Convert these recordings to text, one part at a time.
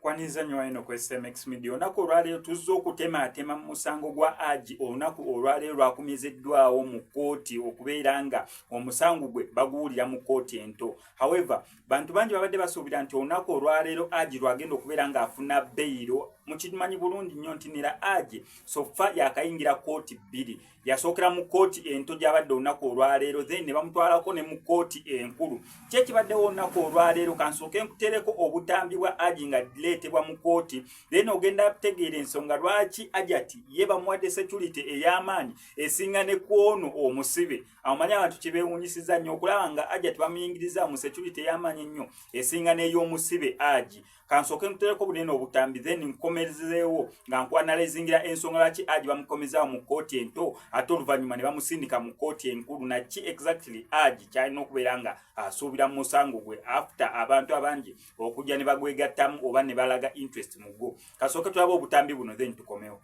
Kwanyiza nnyo eno ku SMX Media. Olunaku olwaleero tuzze okutemaatema mu musango gwa Aji. Olunaku olwaleero lwakumiziddwawo mu kkooti okubeera nga omusango gwe baguwulira mu kkooti ento. However, bantu bangi babadde basuubira nti olunaku olwaleero Aji lwagenda okubeera ng'afuna beyiro. Mukimanyi bulungi nnyo nti nera Aji sofa yakayingira kkooti bbiri. yasookera mu kkooti ento gy'abadde olunaku olwaleero then ne bamutwalako ne mu kkooti enkulu kye kibaddewo olunaku olwaleero kansooke nkutereko obutambi bwa aji nga direetebwa mu kkooti then ogenda kutegeera ensonga lwaki ajati ye bamuwadde security ey'amaanyi esinga ne kwono omusibe amumanye abantu kye beewunyisiza nnyo okulaba nga ajati bamuyingiriza mu security ey'amaanyi ennyo esinga n'ey'omusibe aji kansooke nkutereko bunene obutambi then nkomezeewo nga nkwanalizingira ensonga laki aji bamukomezaawo mu kkooti ento ate oluvannyuma ne bamusindika mu kkooti enkulu naki exactly aji kyalina okubeera nga asuubira mu musango gwe after abantu abangi okujja ne bagwegattamu oba ne balaga interest mu gwo kasooke tulaba obutambi buno then tukomewo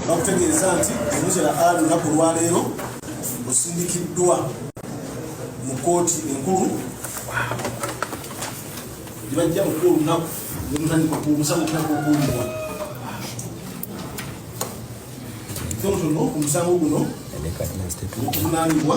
bakutegeeza nti omuzira a lunaku lwaleero osindikiddwa mu kooti enkulu gyebajja muku olunaku nemutandika kumusanga otandika okuwulirwa tonotono omusango guno okuvunaanibwa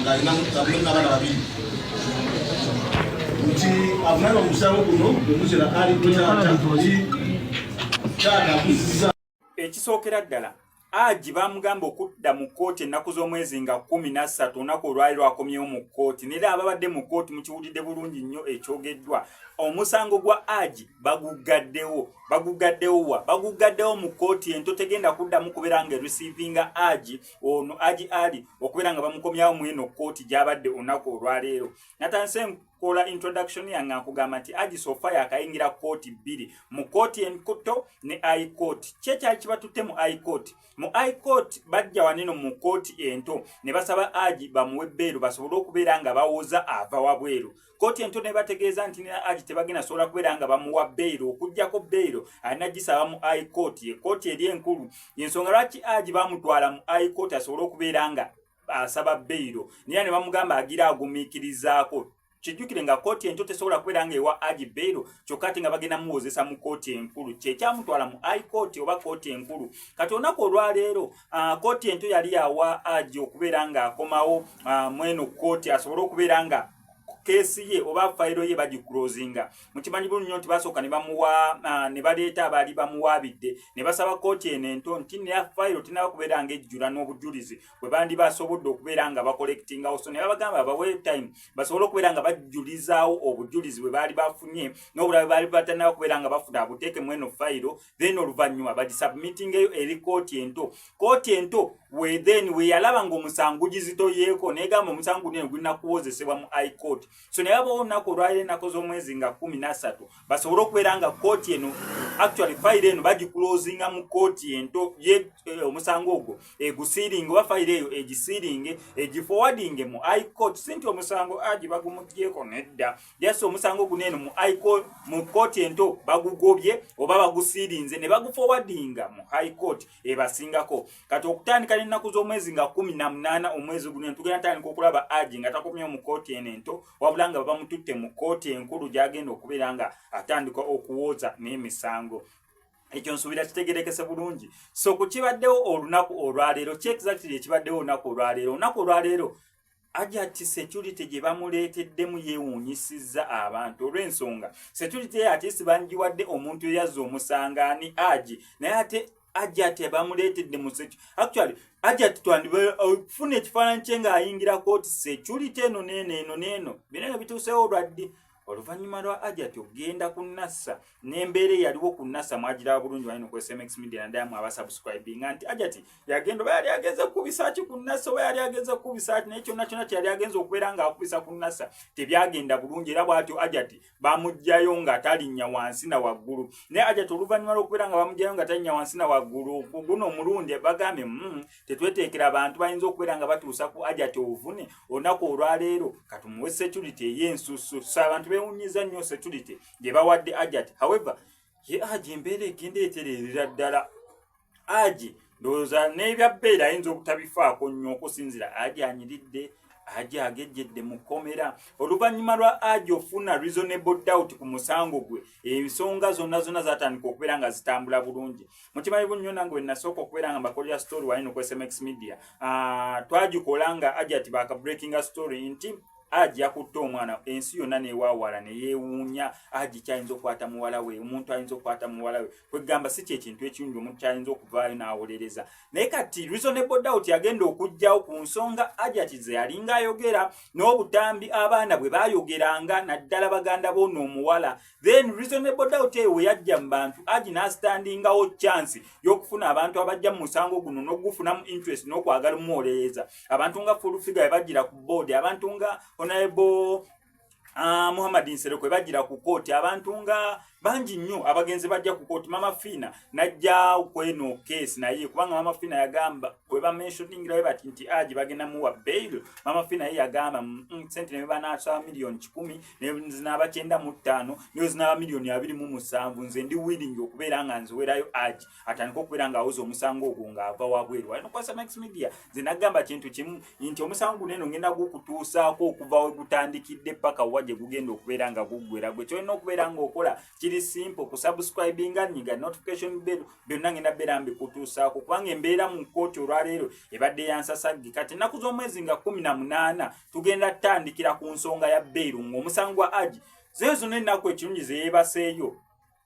ng'alina abulamu n'abaana babiri nti avunaana omusango guno omuzira ali taata oli taata akuziza ekisookera ddala aji bamugamba okudda mu kkooti ennaku z'omwezi nga kumi nassatu olunaku olwali lwakomyewo mu kkooti nera ababadde mu kkooti mukiwulidde bulungi nnyo ekyogeddwa omusango gwa aji baguggaddewo baguggaddewo wa baguggaddewo mu kkooti ento tegenda kuddamu kubeera nga erisiivinga aji ono aji ali okubeera nga bamukomyawo mweno kkooti gyabadde olunaku olwaleero natandise enkola introduction yange akugamba nti aji sofa yakayingira kkooti bbiri mu kkooti enkuto ne i court kyekyali kibatutte mu i court mu i court bajja waneno mu kkooti ento ne basaba aji bamuwe bbeeru basobole okubeera nga bawoza ava wabweru kkooti ento nebategeeza nti nina agi tebagenda sobola kubeera nga bamuwa beyiro okugjako beyiro alina gisaba mu i court ekooti eri enkulu yensonga lwaki agi bamutwala mu i court asobole okubeera nga asaba beyiro nera ne bamugamba agira agumiikirizaako kijjukire nga kkooti ento tesobola kubeera nga ewa agi beyiro kyokka ate nga bagenda muwozesa mu kkooti enkulu kyekyamutwala mu i court oba kkooti enkulu kati olunaku olwaleero ah, kkooti ento yali yawa agi okubeera nga akomawo ah, mweno kkooti asobole okubeera nga keesi ye oba fayiro ye bagikulozinga mukimanyi bulu nnyo nti basooka ne bamuwa ah, ne baleeta abaali bamuwaabidde ne basaba kkooti eno ento nti neya fayiro tinaba kubeera nga ejjula n'obujulizi bwe bandi basobodde okubeera nga bakolekitingawo so ne babagamba bawe time basobole okubeera nga bajulizaawo obujulizi bwe baali bafunye n'obulabe baali batanaba kubeera nga bafuna abuteeke mu eno fayiro then oluvannyuma bagisubmitingeyo eri kooti ento kooti ento wethen weyalaba nga omusango gizitoyeeko negamba omusango guno gulina kuwozesebwa mu i court so naye abawo olunaku olwali ennaku z'omwezi nga kumi nasatu basobole okubeera nga kooti eno actually fayiro eno bagikulozinga mu kooti ento ye eh, omusango ogwo egusiiringe oba fayiro eyo egisiiringe egifowadinge mu i court si nti omusango agi bagumugyeko nedda just omusango guno eno mu high court mu court ento bagugobye oba bagusirinze ne bagufowadinga mu high court ebasingako kati okutandika n'ennaku z'omwezi nga kumi na munaana omwezi guno eno tugenda tandika okulaba aji nga takomyewo mu court eno ento wabula nga babamututte mu court enkulu gyagenda okubeera nga atandika okuwooza n'emisango ekyo nsuubira kitegerekese bulungi so ku kibaddewo olunaku olwaleero kyekizaktiri ekibaddewo olunaku olwaleero olunaku olwaleero ajati security gye bamuleeteddemu yeewuunyisizza abantu olw'ensonga security ye ate sibangiwadde omuntu eyazza omusanga ani agi naye ate ajati bamuleetedde mu security actually ajati twandiba okufuna uh, ekifaananyi kye ng'ayingira kooti security eno neeno eno neeno bino eno bituuseewo olwaddi oluvannyuma lwa ajati okugenda ku nasa n'embeera eyaliwo ku nasa mwagiraba bulungi wali nokozesa mx media naddala mu abasubscribinga nti ajati yagenda oba yali agenze kukubisa ki ku nasa oba yali agenze kukubisa ki naye kyonna kyonna kyeyali agenze okubeera ng'akubisa ku nasa tebyagenda bulungi era bwatyo ajati bamugjayo nga talinnya wansi na waggulu naye ajati oluvannyuma lwokubeera nga bamugjayo nga talinnya wansi na waggulu ku guno omulundi bagambye mm, tetweteekera abantu bayinza okubeera nga batuusa ku ajati obuvune olunaku olwaleero katumuwe security eyensusu so abantu bewunyiza nnyo security gye bawadde ajati however ye aji embeera egenda etererera ddala aji ndowooza n'ebyabbeera ayinza obutabifaako nnyo okusinzira aji anyiridde aji agejjedde mu kkomera oluvannyuma lwa aji ofuna reasonable doubt ku musango gwe ensonga zonna zonna zatandika okubeera nga zitambula bulungi mukimanyi bunnyo nange wenasooka okubeera nga mbakolera story wali noku smx media ah, twagikola nga ajati baka breakinga story nti aji yakutte omwana ensi yonna newaawala neyewuunya aji kyayinza okukwata muwala we omuntu ayinza okukwata muwala we kwegamba si kyekintu ekirungi omuntu kyayinza okuvaayo n'awolereza naye kati reasonable doubt yagenda okugjawo ku nsonga ajati ze yalinga ayogera n'obutambi abaana bwe bayogeranga naddala baganda boona omuwala then reasonable doubt eyo weyajja mu bantu aji n'asitandingawo chance y'okufuna abantu abajja mu musango guno n'okugufunamu interest n'okwagala omuwolereza abantu nga full figure bajjira ku board abantu nga honorable Ah, muhammad nsere kwe bajira ku kooti abantu nga bangi nnyo abagenzi bajja ku kooti mama fiina najja kweno keesi naye kubanga mama fiina yagamba kwe bamenshoningira we bati nti aji bagenda muwa bail mama fiina ye yagamba mm, mm, sente nebebanaasa miliyoni kikumi zinaba kyenda mu ttaano nayo zinaba miliyoni abiri mu musanvu nze ndi willing okubeera nga nziwerayo aji atandika okubeera nga awoza omusango ogwo nga ava wabweru ali nokwasa max media nze nagamba kintu kimu nti omusango guno eno ngenda gukutuusaako okuva we gutandikidde paka wa gye gugenda okubeera nga guggwera gwe kyolina okubeera nga okola kiri simple ku subscribinga nyiga notification bell byonna ngenda beera mbikutuusaako kubanga embeera mu kkooti olwaleero ebadde yansasagge kati ennaku z'omwezi nga kumi na munaana tugenda tutandikira ku nsonga ya bairu ng'omusango gwa aji zee zino ennaku ekirungi zeyebaseeyo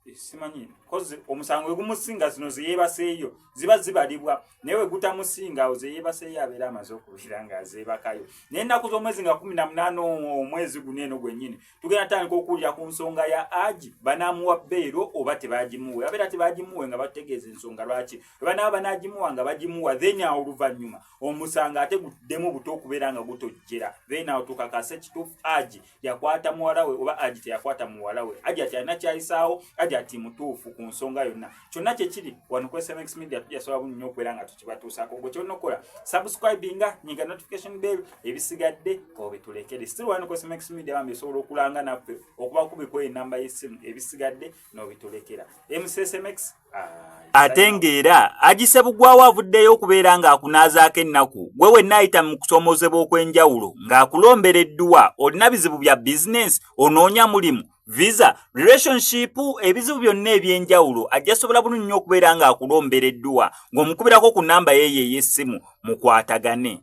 eh, simanyi kozi omusango wegumusinga zino zeyebaseeyo ziba zibalibwa naye wegutamusinga awo zeyebaseeyo abeera amaze okubeera nga zeebakayo naye ennaku z'omwezi nga kumi na munaana omwezi guno eno gwennyini tugenda tutandika okuwulira ku nsonga ya aji banaamuwa beero oba tebagimuwe abeera tebagimuwe nga batutegeeza ensonga lwaki ebanaaba banagimuwa nga bagimuwa then awo oluvannyuma omusango ate guddemu buto okubeera nga gutojjera then awo tukakase kituufu aji yakwata muwala we oba aji teyakwata muwala we aji ati alina kyayisaawo aji ati mutuufu ku nsonga yonna kyonna kyekiri wano ku smx media tujasobola bu nnyo okubeera nga tukibatuusaako gwe kyonna okukola subscribinga nyinga notification bell ebisigadde obitulekere still wano ku smx media bambi esobola okulanga naffe okuba kubikuwa enamba y'essimu ebisigadde nobitulekera msmx ate ng'era agise bugwawo avuddeyo okubeera ng'akunaazaako ennaku gwe wenna ayita mu kusoomozebwa okw'enjawulo ng'akulombera edduwa olina bizibu bya bizinensi onoonya mulimu visa relationship ebizibu byonna eby'enjawulo ajja sobola bunu nnyo okubeera ng'akulombera edduwa ng'omukubirako ku nnamba yeeyo ey'essimu mukwatagane